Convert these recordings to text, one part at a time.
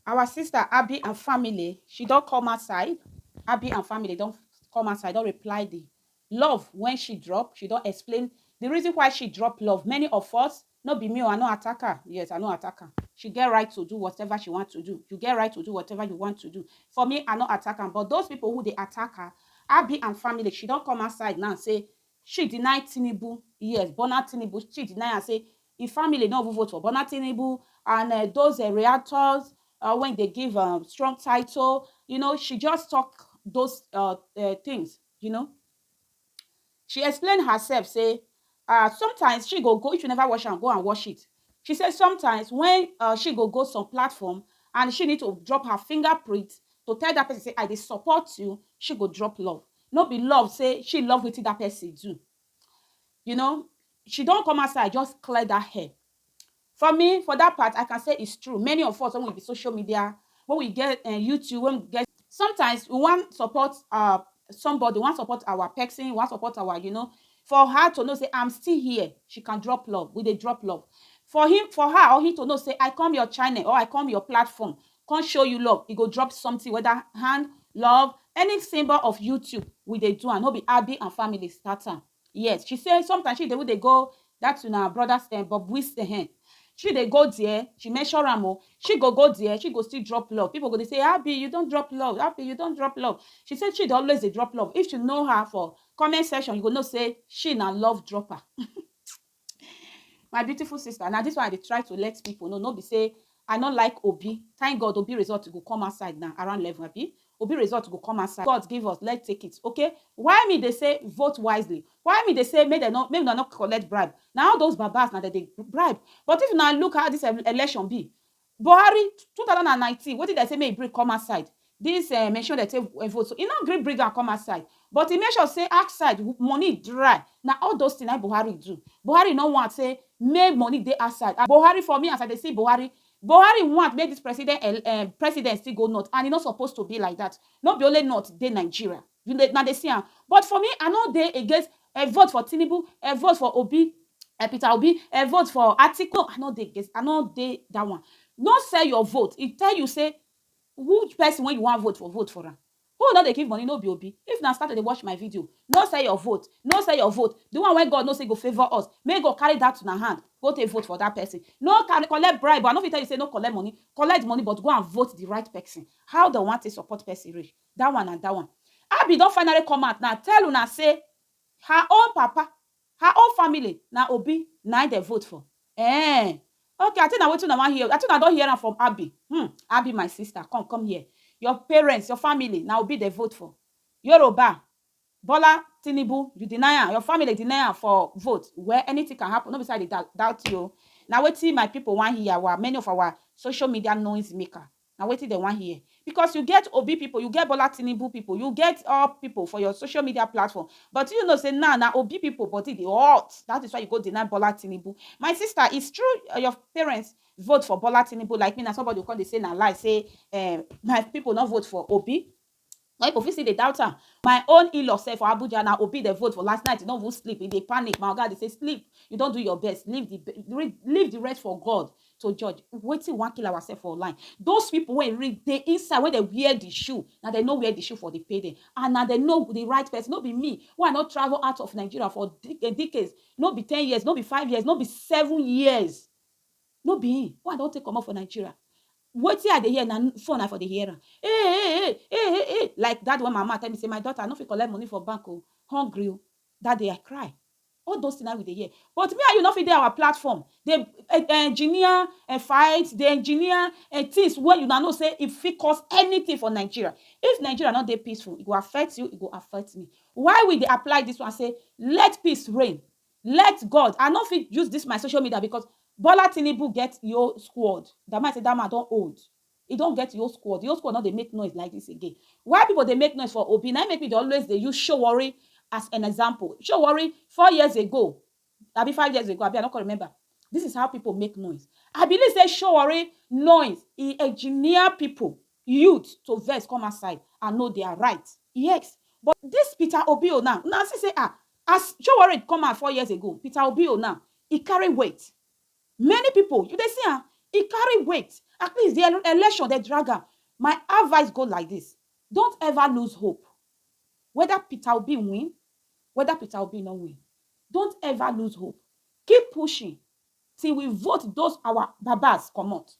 Our sister Abi and family, she don come outside, Abi and family don come outside, don reply the love when she drop, she don explain the reason why she drop love. Many of us, no be me o, I no attack her, yes, I no attack her. She get right to do whatever she want to do. You get right to do whatever you want to do. For me, I no attack am, but those people who dey attack her, Abi and family, she don come outside now say she deny Tinubu, yes, Bola Tinubu, she deny am say Im family no even vote for Bola Tinubu and um those um reactors um wey dey give um strong title, you know, she just talk those um things, you know. She explain herself say um sometimes she go go, if you never watch am, go and watch it. She say sometimes when um she go go some platform and she need to drop her finger print to tell that person say I dey support you, she go drop love. No be love say she love wetin that person do. you know she don come outside just clear that hair for me for that part i can say it's true many of us when we be social media when we get uh, youtube when we get sometimes we want support uh somebody we want support our person we want support our you know for her to know say i'm still here she can drop love we dey drop love for him for her or he to know say i come your channel or i come your platform come show you love e go drop something whether hand love any symbol of youtube we dey do am no be abi and family start am yes she say sometimes she dey we dey go that una brothers eh, bob wis eh, eh. she dey go there she measure am o she go go there she go still drop love people go dey say abi you don drop love abi you don drop love she say she dey always dey drop love if you know her for comment section you go know say she na love dropper My beautiful sister, na dis one I dey try to let pipu know, no be sey I no like Obi. Thank God Obi result go come outside now around eleven abi? Obi result go come outside. God give us, let's take it, okay? Why me dey say vote wisely? Why me dey say make dem no make una no collect bribe? Na all those babas na dem dey bribe. But if una look how dis election be, Buhari, two thousand and nineteen, wetin dem say make e bring come outside, dis um machine wey dem take um vote so, e no gree bring am come outside, but e make sure say outside money dry, na all those things na im Buhari do, Buhari no want say make money dey outside and Buhari for me as I dey see Buhari, Buhari want make dis president um president still go north and e no suppose to be like dat, no be only north dey Nigeria. You dey, una dey see am. But for me, I no dey against um vote for Tinubu, um vote for Obi, um Peter Obi, um vote for Atiku, no, I no dey against, I no dey that one. No sell your vote. If tell you say who person wey you wan vote for, vote for am. Who no dey give money no be Obi. If una start to dey watch my video, no sell your vote, no sell your vote. The one wey God know say go favour us, make God carry that una hand go take vote for that person. No carry collect bribe o, I no fit tell you say no collect money, collect the money but go and vote the right person. How dem wan take support person reach? That one na that one. Abby don finally come out now tell una say her own papa, her own family na Obi na im dem vote for. Eehh ok I think na wetin una wan hear, I think una don hear am from Abby hmm Abby my sister come come here your parents, your family na Obi dem vote for Yoruba Bola Tinubu you deny am, your family deny am for vote well anything can happen no be say I dey doubt you o na wetin my people wan hear our many of our social media noise maker Na wetin dem wan hear because you get Obi people, you get Bola Tinubu people, you get all people for your social media platform but you know say now na Obi people body dey hot that is why you go deny Bola Tinubu. My sister it's true your parents vote for Bola Tinubu like me na somebody go come dey say na lie say um my people no vote for Obi. Some people fit still dey doubt am. My own in-law sef for Abuja na Obi dem vote for last night, e no even sleep, e dey panic. My oga dey say sleep, you don do your best, leave the leave the rest for God to judge. Wetin we wan kill ourself for online? Those people wey really dey inside, wey dem wear the shoe, na dem know where the shoe for dey pain dem and na dem know the right person. No be me wey I no travel out of Nigeria for decades, no be ten years, no be five years, no be seven years. No be him, one don take comot for Nigeria, wetin I dey hear na phone I for dey hear am, Eeh eeh eeh, eeh eeh eeh, like that day when my mama tell me say my daughter I no fit collect money for bank oo, hungry oo, that day I cry, all those things na him we dey hear, but me and you no fit dey our platform dey engineer fight, dey engineer things wey una know say e fit cause anything for Nigeria, if Nigeria no dey peaceful e go affect you, e go affect me, why we dey apply this one say let peace reign, Let God, I no fit use this my social media because Bola Tinubu get e whole squad. That man say that man don old. He don get e whole squad. E whole squad no dey make noise like this again. Why people dey make noise for Obi? Na im make me dey always dey use Sowore as an example. Sowore four years ago, abi five years ago, abi I no come remember. This is how people make noise. I believe say Sowore noise e engineer people, youth to vex come outside and know their right. Yes, but this Peter Obi o now, una see say ah, As Showorate come out four years ago, Peter Obi o now, e carry weight. Many people, you dey see am, e carry weight. At least the election dem drag am. My advice go like this, don't ever lose hope. Whether Peter Obi win, whether Peter Obi no win, don't ever lose hope. Keep pushing till we vote those our babas comot.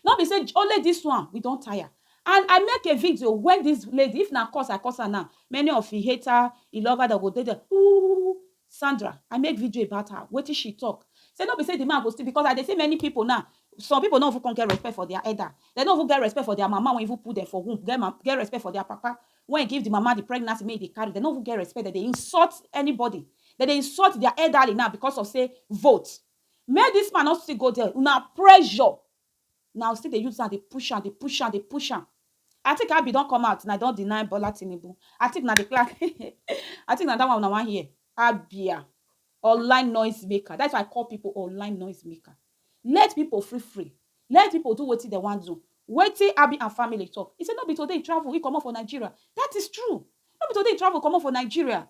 No be say only this one we don tire and I make a video when this lady if na curse I curse her now many of e hater e lover dem go dey there ooh Sandra I make video about her wetin she talk say no be say the man go still because I dey see many people now some people no even come get respect for their elder dem no even get respect for their mama wey even put dem for womb get respect for their papa wey give the mama the pregnancy make e dey carry dem no even get respect dem dey insult anybody dem dey insult their elderly now because of say vote Make this man no still go there una pressure na u still dey use am dey push am dey push am dey push am I think Abi don come out na don deny Bola Tinubu I think na the class I think na that one una wan hear Abia online noise maker that's why I call people online noise maker let people free free let people do wetin dem wan do wetin Abi and family talk he say no be today he travel he comot for Nigeria that is true no be today he travel comot for Nigeria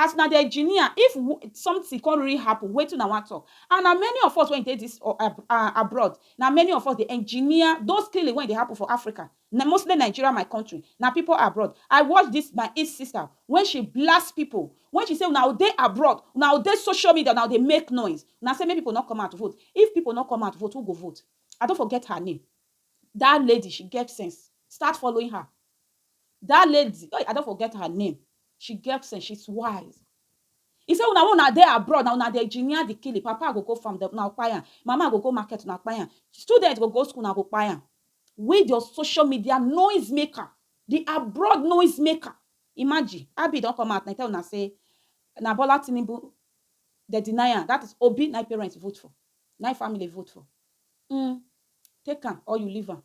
As una dey engineer, if something come really happen, wetin una wan talk? And na many of us wey dey this abroad, na many of us dey engineer those killing wey dey happen for Africa, mostly Nigeria, my country, na people abroad. I watch this my East sister when she blast people, when she say una go dey abroad, una go dey social media, una go dey make noise, una say make people no come out vote. If people no come out vote, who go vote? I don forget her name. That lady, she get sense. Start following her. Dat lady, hey I don forget her name, she get sense, she's wise. E say una wey una dey abroad na una dey engineer the killing, papa go go farm dem una go kpai am, mama go go market una kpai am, student go go school una go kpai am. We the social media noise maker, the abroad noise maker, imagine Abbie don come out na e tell una say na Bola Tinubu dem deny am, that is Obi na e parent vote for, na e family vote for, um take am or you leave am.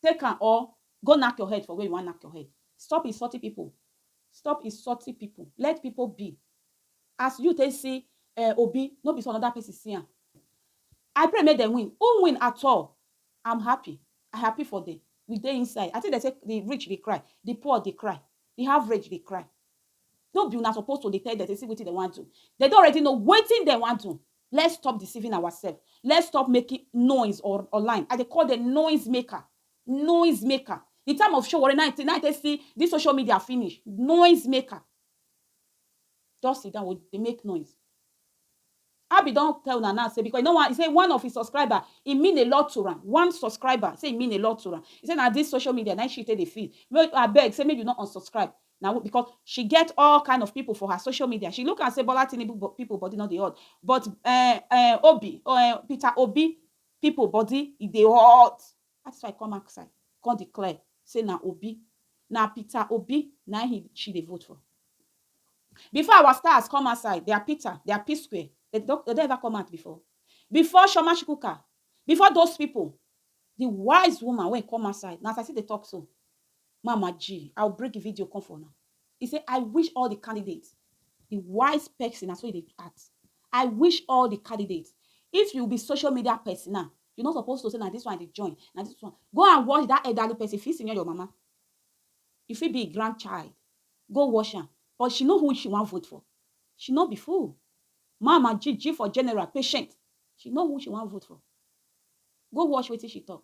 Take am or go knack your head for where you wan knack your head. Stop insulting people, stop insulting people, let people be. As you take see um Obi, no be so another person see am. I pray make dem win, who win at all, I'm happy, I happy for dem, we dey inside. I think dem say the rich dey cry, the poor dey cry, the average dey cry. No be una suppose to dey tell dem say see wetin dem wan do, dem don already know wetin dem wan do. Let's stop deceiving ourselves, let's stop making noise or online, I dey call dem noise maker, noise maker, the time of Sowore na im I take see this social media finish, noise maker, just sit down dey make noise. Abi don tell una now say because e no wan, e say one of im subscriber e mean a lot to am, one subscriber say e mean a lot to am, e say na this social media na im she take dey feed, abeg say make you no unsubscribe, na who because she get all kind of people for her social media she look am say Bola Tinubu bo- people body no dey hot but eh, eh, Obi oh, eh, Peter Obi people body e dey hot that is why I come outside come declare say na Obi na Peter Obi na he she dey vote for before our stars come outside they are Peter they are P Square they don they don ever come out before before Shoma Shukuka before those people the wise woman wey come outside na as I still dey talk so Mama G, I will bring the video come for una. He say I wish all the candidates, the wise person na so he dey act. I wish all the candidates. If you be social media person now, you no suppose to say na this one I dey join, na this one. Go and watch that elderly person, e fit senior your mama, e fit be im grandchild. Go watch am. But she know who she wan vote for. She no be fool. Mama G, G for general, patient. She know who she wan vote for. Go watch wetin she talk.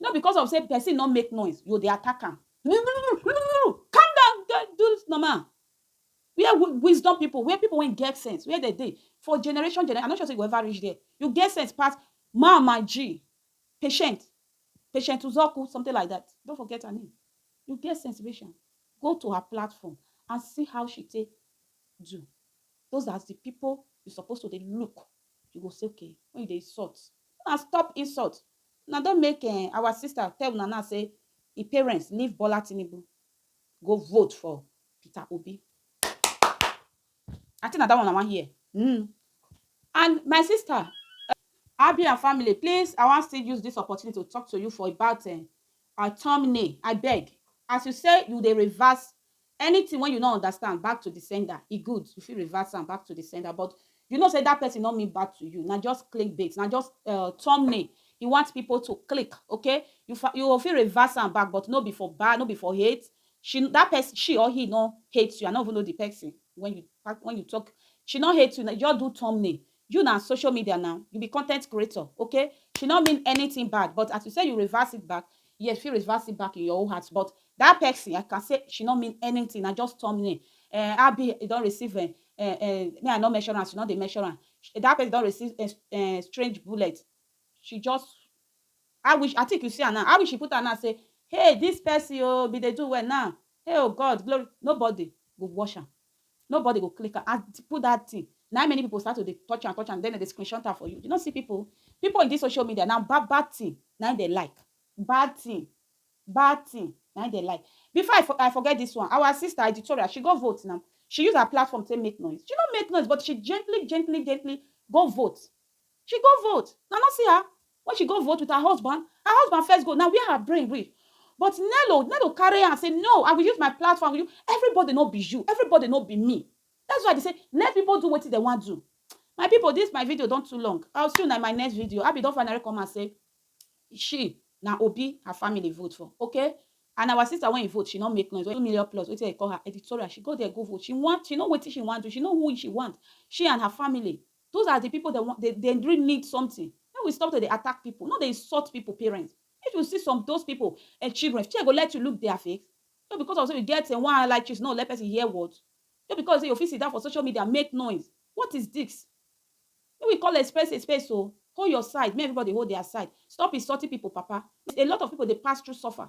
No because of say person no make noise yo dey attack am. Calm down do do normal where wisdom people where people wey get sense where dem dey for generation generation I no sure say you go ever reach there you get sense pass man my G patient patient uzoku something like that I don forget her name you get sense reach am go to her platform and see how she take do those are the people you suppose to dey look you go say okay when you dey insult make una stop insult Una don make um our sister tell una now say e parents leave Bola Tinubu go vote for Peter Obi. I think na that one una wan hear. Mm. And my sister, Abi and family, please, I wan still use this opportunity to talk to you for about um, our thumbnail. I beg, as you say you dey reverse Anything wen you no understand back to the sender e good you fit reverse am back to the sender but you know say that person no mean bad to you na just click bait na just um thumbnail he want people to click okay you fa you go fit reverse am back but no be for bad no be for hate she that person she or he no hate you i no even know the person wen you wen you talk she no hate you na just do thumbnail You na social media now, you be content creator okay, she no mean anything bad but as you say you reverse it back, yes you fit reverse it back in your own heart but that person I can say she no mean anything na just thumbnail um abi you don receive um um me I no measure am she no dey measure am that person don receive um strange bullet she just how wish I think you see am now how wish she put am now say hey this person oo bin dey do well now hey oo God glory nobody go watch am Nobody go click am. As put that thing, na many people start to dey touch am, touch am, then dem dey screenshot am for you. You no see people? People in this social media, na bad bad thing na im dem like. Bad thing, bad thing na im dem like. Before I I forget this one, our sister Editorial, she go vote na. She use her platform take make noise. She no make noise, but she gently, gently, gently go vote. She go vote. Una no see her? When she go vote with her husband, her husband first go, na where her brain reach. But Nello, Nello carry hand say no, I will use my platform, I will use, everybody no be you, everybody no be me. That's why I dey say let people do wetin dem wan do. My people this my video don too long, I will see una in my next video. Abby don finally come out say she, na Obi her family vote for, okay? And our sister when e vote, she no make noise, two million plus, wetin dem call her, editorial, she go there go vote, she want, she know wetin she wan do, she know who she want, she and her family. Those are the people that want, they, they really need something. Make we stop to dey attack people. No dey insult people parents. If you see some those people and eh, children, shey go let you look their face? Just because of say you get uh, one like cheese, no let person hear word. Just because say you fit sit down for social media, make noise. What is this? Make we call a space a space o. Oh. Hold your side. Make everybody hold their side. Stop insulting people, papa. A lot of people dey pass through suffer.